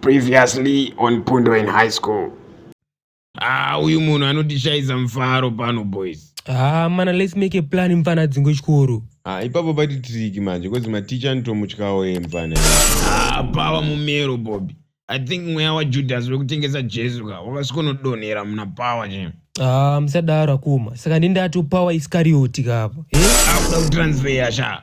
Previously on Pundo in high school. Ah, uyu munhu anotishayisa mufaro pano boys. Ah, mana let's make a plan mfana dzingo chikoro. Ah, ipapo pati triki manje because ma teacher anotomutyawo ye mfana. Ah, pawa mumero Bobby. I think mweya wa Judas wekutengesa Jesu ka wakasikonodonhera muna power che. Ah, musadaro akuma. Saka ndindati power iskarioti kapa. Eh? Akuda kutransfer sha.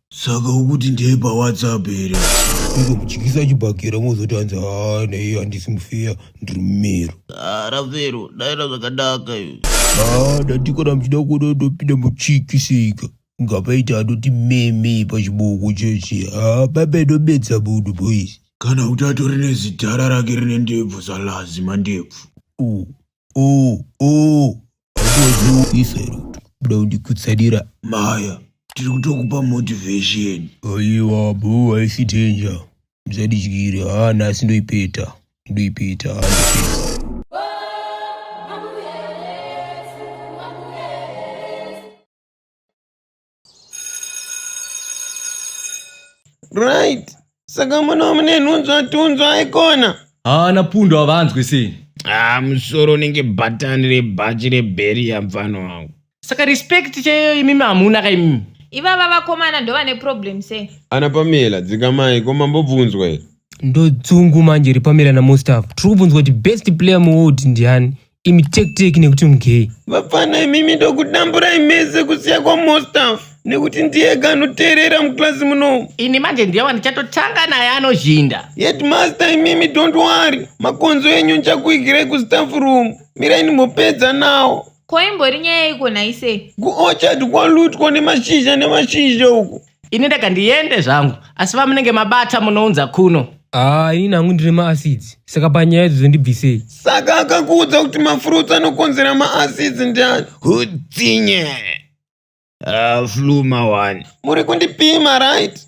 saka ukuti ndeye pawhatsapp here ingomuchikisa chibhakera mozoti hanzi haa naiye handisi mufeya ndiri mumero aravero ah, daira zvakanaka iyo haa ah, ndatikana muchida kuona ndopinda muchikisika ngapaita anoti meme pachiboko chechi haa ah, baba inobedza munhu boys kana kuti atori nezidhara rake rine ndebvu zalazima ndebvu oh, oh. Iserutu, buda undikutsanira maya. Tiri kutokupa motivation. Aiwa, boo, haisi danger. Mzadidyire, haa nhasi ndoipeta. Ndoipeta, haa ndoipeta. right saka mwana wamune nhunzwa tunzwa aikona haana pundo havanzwi sei ah musoro unenge bhatani rebhachi rebheriya mfana wangu saka respect chaiyo imimi hamuna ka imimi ivava vakomana ndovane problem sei ana pamela dzikamai ko mambobvunzwa here ndodzungu manje repamela namustaff tiri kubvunzwa kuti best player muworld ndiani imi tekiteki nekuti mugei vapfana imimi ndokudamburai mese kusiya kwamostaf nekuti ndiye kanoteerera mukilasi munomu ini manje ndiye wandichatotanga naye anozhinda headmaster imimi don't worry makonzo enyu ndichakuigirai kustaff room mirai ndimopedza nawo ko imbori nyaya iko nhaise kuorchard kwalutwa nemashizha nemashizha uku ini ndega ndiende zvangu asi vamunenge mabata munounza kuno haa ini nangu ndine maacids saka panyaya idzo dzondibvisei saka akakuudza kuti mafruits anokonzera maacids ndiani hutsinye Ah, flu mawani muri kundipima right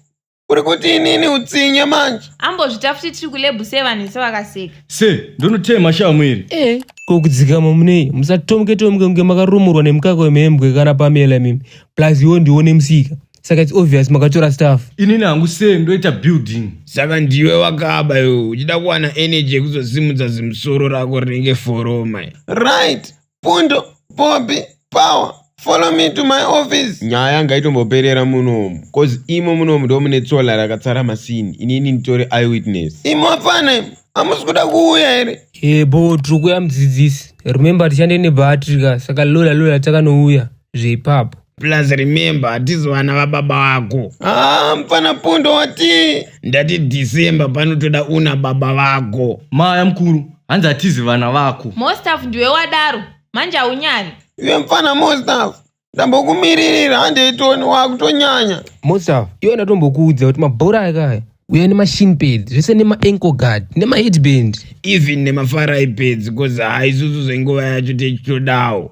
uri kuti inini utsinye manje ambozvita futi tiri kulebhu sevanhu vese vakaseka se ndonotema shamwiri e ko kudzikama munei musatomuke tomuke kunge makarumurwa nemukaka wemhembwe kana pamela mimi plus iwo ndiwo nemusika saka its obvious makatora staff inini hangu sei ndoita building saka ndiwe wakaba iwe uchida kuwana energy yekuzosimudza zimusoro rako rinenge foroma right pundo bobi power follow me to my office nyaya yanga itomboperera munomu cause imo munomu ndo mune tsola rakatsara masini inini nditori eyewitness imo hapana imo hamusi kuda kuuya here yebo tiri kuya mudzidzisi remember tichande nebattery ka saka lola lola takanouya zveipapo plus remember hatizi vana vababa vako ah mfana pondo wati ndati december panotoda una baba vako maya mukuru hanzi hatizi vana vako mostaf ndiwe wadaro manje haunyari iwe mfana mostaf ndambokumiririra handeitoni wakutonyanya mostaf iwe ndatombokuudza kuti mabhora akaya uya nemashine pads zvese nemaanko guard nemaheadband even nemafarai pads bcause haisusu zvenguva yacho techitodawo